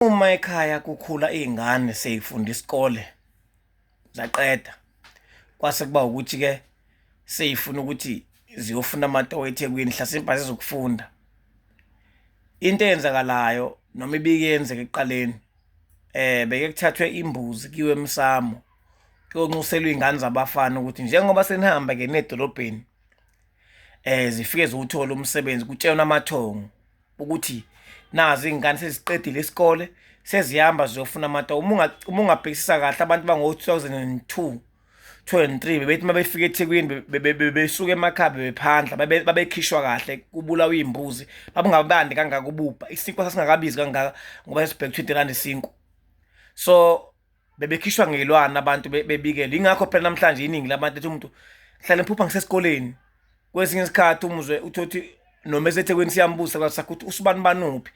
uma ekhaya kukhula izingane seyifunda isikole zaqeda kwase kuba ukuthi ke seyifuna ukuthi ziyofuna amatoho eThekwini hlasimpa zizokufunda into eyenzakalayo noma ibike yenzeka ekuqaleni eh beke kuthathwe imbuzi kiwe emsamo kuyonxuselwa izingane zabafana ukuthi njengoba senihamba ke nedolobheni eh zifike zowuthola umsebenzi kutshelwa amathongo ukuthi nazo iy'ngane seziqedile isikole sezihamba ziyofuna amata uma ungabhekisisa kahle abantu bango-2002 23 bebethi uma befika ethekwini bebesuka emakhaya bebephandla babekhishwa kahle kubulawa iy'mbuzi babungabandi kangaka ububha isinkwa sasingakabizi kangaka ngoba sesibheke 20 rand isinkwa so bebekhishwa ngeyilwane abantu bebikele ingakho phela namhlanje iningi labantu ethi umuntu hlale mphupha ngisesikoleni kwesinye isikhathi umuzwe uthothi noma esethekwini siyambusa kwasakho ukuthi usibani banuphi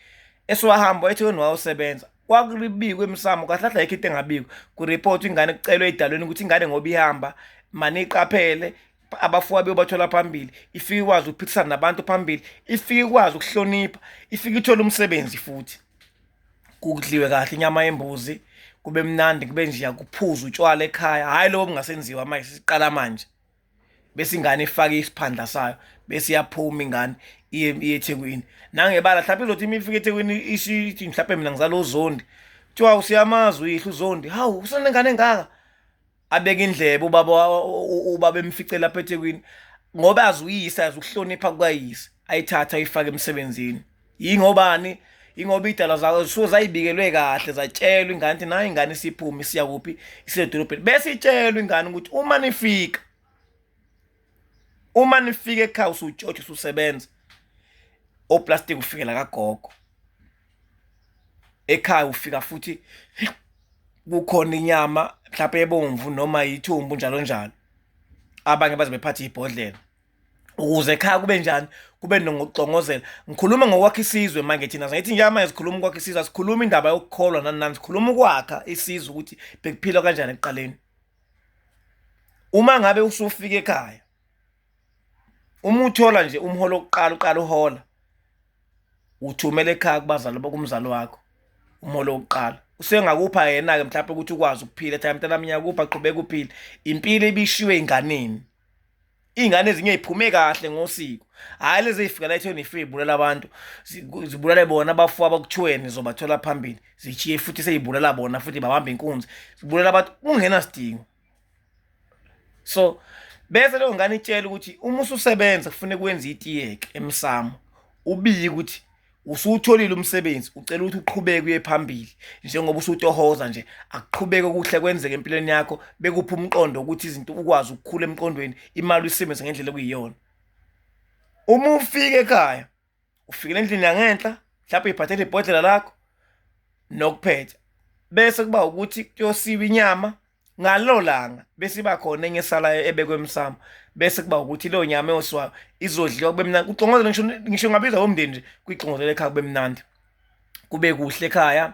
esiwahamba ethekwini wawusebenza kwakulibikwe emsamo kahle kahle ayikho into engabikwa kureport ingane kucelwe idalweni ukuthi ingane ngoba ihamba mani iqaphele abafuwa beyobathola phambili ifike ikwazi ukuphikisana nabantu phambili ifike ikwazi ukuhlonipha ifike ithole umsebenzi futhi kudliwe kahle inyama yembuzi kube mnandi kube nje yakuphuza utshwala ekhaya hayi lobo bungasenziwa manje siqala manje bese ingane ifake isiphandla sayo bese iyaphuma ingane iye eThekwini nangebala mhlawumbe izothi imile ifike eThekwini ishithi mhlawumbe mina ngizalo zondi kuthiwa usiyamazi uyihla uzondi hawu usenengane engaka abeke indlebe ubaba ubaba emfice lapha eThekwini ngoba azi uyise azi ukuhlonipha kukayise ayithatha ayifake emsebenzini yingobani ingoba idala zayo zisuke zayibikelwe kahle zatshelwa ingane ukuthi nayo ingane isiphume isiya kuphi isedolobheni bese itshelwa ingane ukuthi uma nifika uma nifika ekhaya usujotshe ususebenza oplastic ufikela kagogo ekhaya ufika futhi kukhona inyama mhlawumbe ebomvu noma yithumbu njalo njalo abanye baze bephathe ibhodlela ukuze ekhaya kube njani kube nokuxongozela ngikhuluma ngokwakha isizwe manje thina sithi nje manje sikhuluma ukwakha isizwe sikhuluma indaba yokukholwa nani nani sikhuluma ukwakha isizwe ukuthi bekuphilwa kanjani ekuqaleni uma ngabe usufika ekhaya uma uthola nje umholo wokuqala uqala uhola uthumela ekhaya kubazali kumzali wakho umholo wokuqala usengakupha yena-ke mhlawumpe ukuthi ukwazi ukuphila ethi mntana mnyaka kuphi aqhubeke uphile impilo ibishiwe ey'nganeni iy'ngane ezinye y'phume kahle ngosiko hhayi lezi ey'fikela ethweni ife y'bulala abantu zibulale bona abafu abakuthiweni zobathola phambili zishiye futhi sey'bulala bona futhi babambe inkunzi zibulela abantu kungenasidingo so bese leyo ngane itshela ukuthi uma ususebenza kufuneka wenze itiyeke emsamo ubiye ukuthi usutholile umsebenzi ucela ukuthi uqhubeke uye phambili njengoba usutohoza nje akuqhubeke okuhle kwenzeke empilweni yakho bekuphi umqondo ukuthi izinto ukwazi ukukhula emqondweni imali uyisebenze ngendlela okuyiyona uma ufika ekhaya ufikele endlini yangenhla mhlawumbe iphathele ibhodlela lakho nokuphetha bese kuba ukuthi kuyosiwa inyama ngalo langa bese iba khona enye esalayo ebekwe emsamo bese kuba ukuthi leyo nyama eyosiwayo izodliwa kube mnandi kuxongozela ngisho ngisho ngabiza womndeni nje kuyixongozela ekhaya kube mnandi kube kuhle ekhaya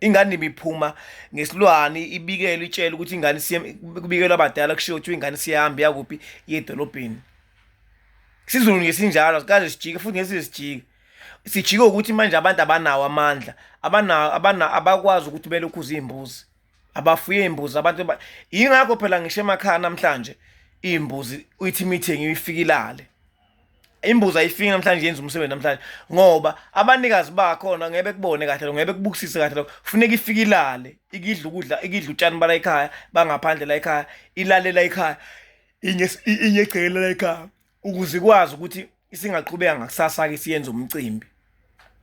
ingane ibiphuma ngesilwane ibikela itshela ukuthi ingane kubikelwa abadala kushiwo kuthiwa ingane siyahamba yakuphi yedolobheni sizulu ngesinjalo sikaze sijike futhi ngesize sijike sijike ukuthi manje abantu abanawo amandla abanawo abana abakwazi ukuthi belokhu izimbuzi abafuye imbuzi abantu ingakho phela ngisho emakhaya namhlanje imbuzi uyithi imithengi uyifikilale imbuzi ayifiki namhlanje yenza umsebenzi namhlanje ngoba abanikazi bakhona ngeke kubone kahle lo ngeke kubukisise kahle lo kufuneka ifike ilale ikidla ukudla ikidla utshani bala ekhaya bangaphandle la ekhaya ilalela ekhaya inye inye egcekela la ekhaya ukuze ikwazi ukuthi isingaqhubeka ngakusasa ke siyenza umcimbi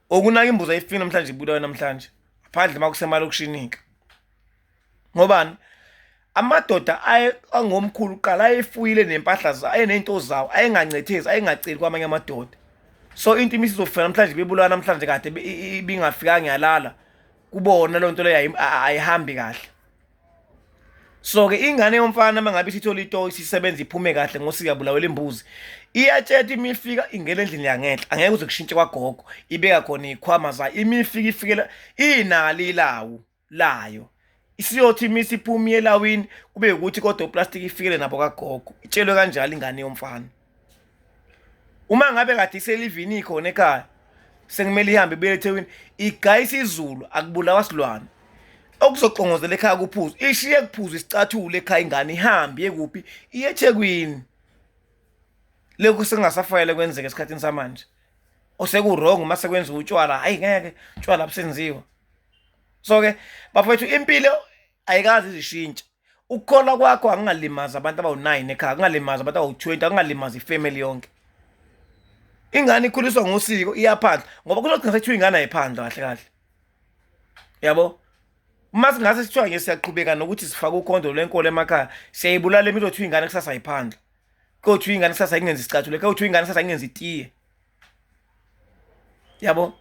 okunaka imbuzi ayifiki namhlanje ibulawe namhlanje phandle makusemalokishini ke ngobani amadoda angomkhulu kuqala ayefuyile nempahla zawo ayeney'nto zawo ayengancethezi ayengaceli kwamanye amadoda so into imisi izofika namhlanje bebulawa namhlanje kade ibingafikanga yalala kubona loo nto leyo ayihambi kahle so-ke ingane yomfana uma ngabe isithole ito isisebenza iphume kahle ngosikuyabulawela imbuzi iyatsheta uma ifika ingena endlini yangenhla angeke uze kushintshe kwagogo ibeka khona iy'khwama zayo ima ifika ifikela inalo ilawu layo isiyothi uma isiphuma elawini kube ukuthi kodwa uplastiki ifikele nabo kagogo itshelwe kanjalo ingane yomfana uma ngabe kade iselivini khona ekhaya sekumele ihambe ibuyele eThekwini igayisa izulu akubulawa silwane okuzoqongozela ekhaya kuphuzo ishiye kuphuzo isicathule ekhaya ingane ihambe yekuphi iyeThekwini lokhu sengasafanele kwenzeke esikhathini samanje osekuwrong uma sekwenziwa utshwala hayi ngeke utshwala abusenziwa so ke bafowethu impilo ayikazi izishintsha ukukholwa kwakho akungalimazi abantu abawu-nine ekhaya akungalimazi abantu abawu-twenty akungalimazi ifamily yonke ingane ikhuliswa ngosiko iyaphandla ngoba kuzogcina sekuthiwa ingane ayiphandla kahle kahle yabo uma singase sithiwa nje siyaqhubeka nokuthi sifake ukhondo lwenkolo emakhaya siyayibulala impilo kuthiwa ingane kusasa ayiphandla kowuthi uyingane kusasa ingenza isicathulo kowuthi uyingane kusasa ingenza itiye yabo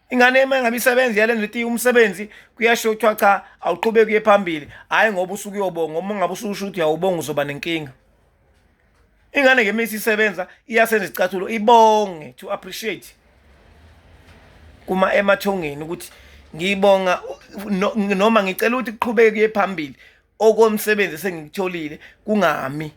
ingane uma ngabe isebenzi yalenza itiye umsebenzi kuyasho kuthiwa cha awuqhubeki uye phambili hhayi ngoba usuke uyobonga uma ungabe ususho ukuthi uyawubonga uzoba nenkinga ingane ngemisi isebenza iyasenza isicathulo ibonge to appreciate kuma emathongeni ukuthi ngiyibonga noma ngicela ukuthi kuqhubeke kuye phambili okomsebenzi esengikutholile kungami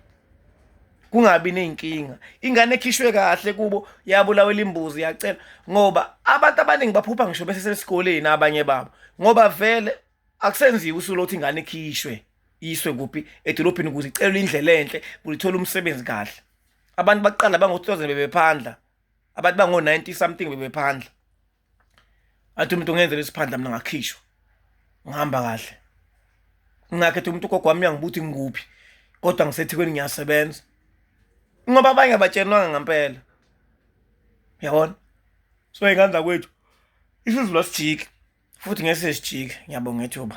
kungabi ney'nkinga ingane ekhishwe kahle kubo yabulawela imbuzi yacela ngoba abantu abaningi baphupha ngisho besesesikoleni abanye babo ngoba vele akusenziwa usuku lokuthi ingane ikhishwe yiswe kuphi edolophini ukuze icelwe indlela enhle kulithola umsebenzi kahle abantu baqala bango-2000 bebephandla abantu bango-90 something bebephandla athi umuntu ungenzela isiphandla mina ngakhishwa ngihamba kahle ngakhetha umuntu ugogo wami uyangibuthi ngikuphi kodwa ngisethikweni ngiyasebenza ngoba abanye abatshenwanga ngempela yabona so ingane zakwethu isizulu asijiki futhi ngeke sesijike ngiyabonga ethuba